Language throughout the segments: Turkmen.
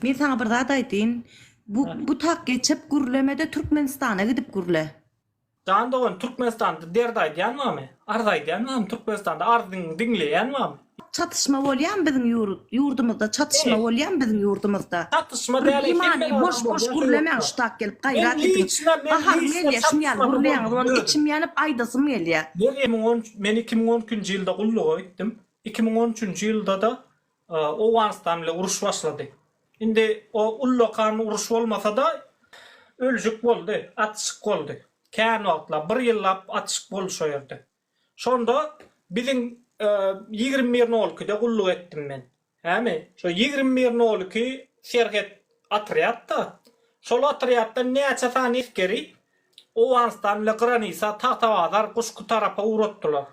Men saňa bir zat aýtyn. Bu bu tak geçip gürlemede Türkmenistana gidip gürle. Jan dogan Türkmenistanda derd aýdýan barmy? Arz aýdýan barmy Türkmenistanda arzyňy diňleýän barmy? Çatyşma bolýamy biziň ýurt ýurdumyzda çatyşma bolýamy biziň ýurdumyzda? Çatyşma däl hemme adam bolýan boş boş gürlemäň şu tak gelip gaýrat ediň. Gaharym gelýä şum ýaly gürleýäňiz ony içim ýanyp aýdasym gelýä. Meryemiň on men iki müň on ikinji ýylda gulluga gitdim. Iki müň on üçünji ýyldada Owganystan bile uruş başlady. Indi o ullakan uruş bolmasa-da, ölşük boldy, atyşyk boldy. Kän wagtlap, bir ýyllap atyşyk boldy şo ýerde. Şonda biziň ýigrimi bir nol ikide gulluk etdim men. Hämi, şo ýigrimi bir nol iki serhet otrýad-da. Şol otrýaddan näçe sany esgeri Owganystan bile granisa Tagtabazar, Guşki tarapa ugratdylar.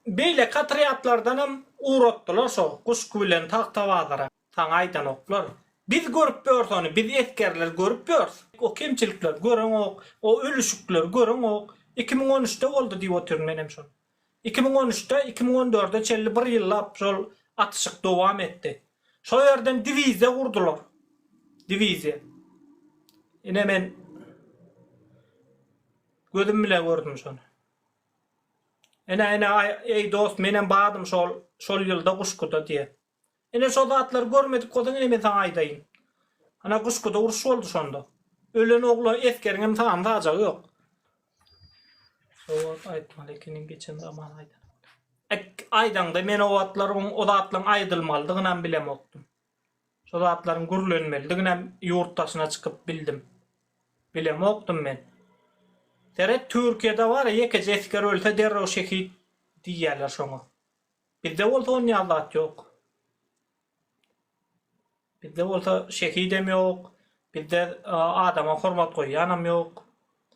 Beýleki otrýadlardanam ugratdylar şo guşky bilen tagtabazyra. Saňa aýdanoklar. Biz görüp ýörüs ony, biz esgerler görüp ýörüs. O kemçilikleri göreňok, o ölüşikleri göreňok. Iki müň on üçde boldy diýip otyryn menem şol. Iki müň on üçde, iki müň on dörde çenli bir ýyllap şol atyşyk dowam etdi. Şo ýerden diwiziýa gurdular. Diwiziýa. Ine men gözüm bilen gördüm şony. Ine, ine, eý, dost, menem bardym şol, şol ýylda Guşguda, diýýär. Ine, şo zatlary görmedik bolsaň, ine, men saňa aýdaýyn. Ana, Guşguda uruş boldy şonda. Ölen oglan esgeriňem sany sajagy ýok. Sowat aýtmaly ekeniň, geçen zaman aýdanyňda. Ek, aýdaňda, men o wagtlar oň, o zatlaryň aýdylmalydygynam bilemokdym. Şo zatlaryň gürlenmelidiginem ýurt daşyna çykyp bildim. Bilemokdym men. Seret Türkiýede bara ýekeje esger ölse derrew şehit diýýärler şoňa. Bizde bolsa onýal zat ýok. Bizde bolsa şehidem ýok, bizde adama hormat goýýanam ýok.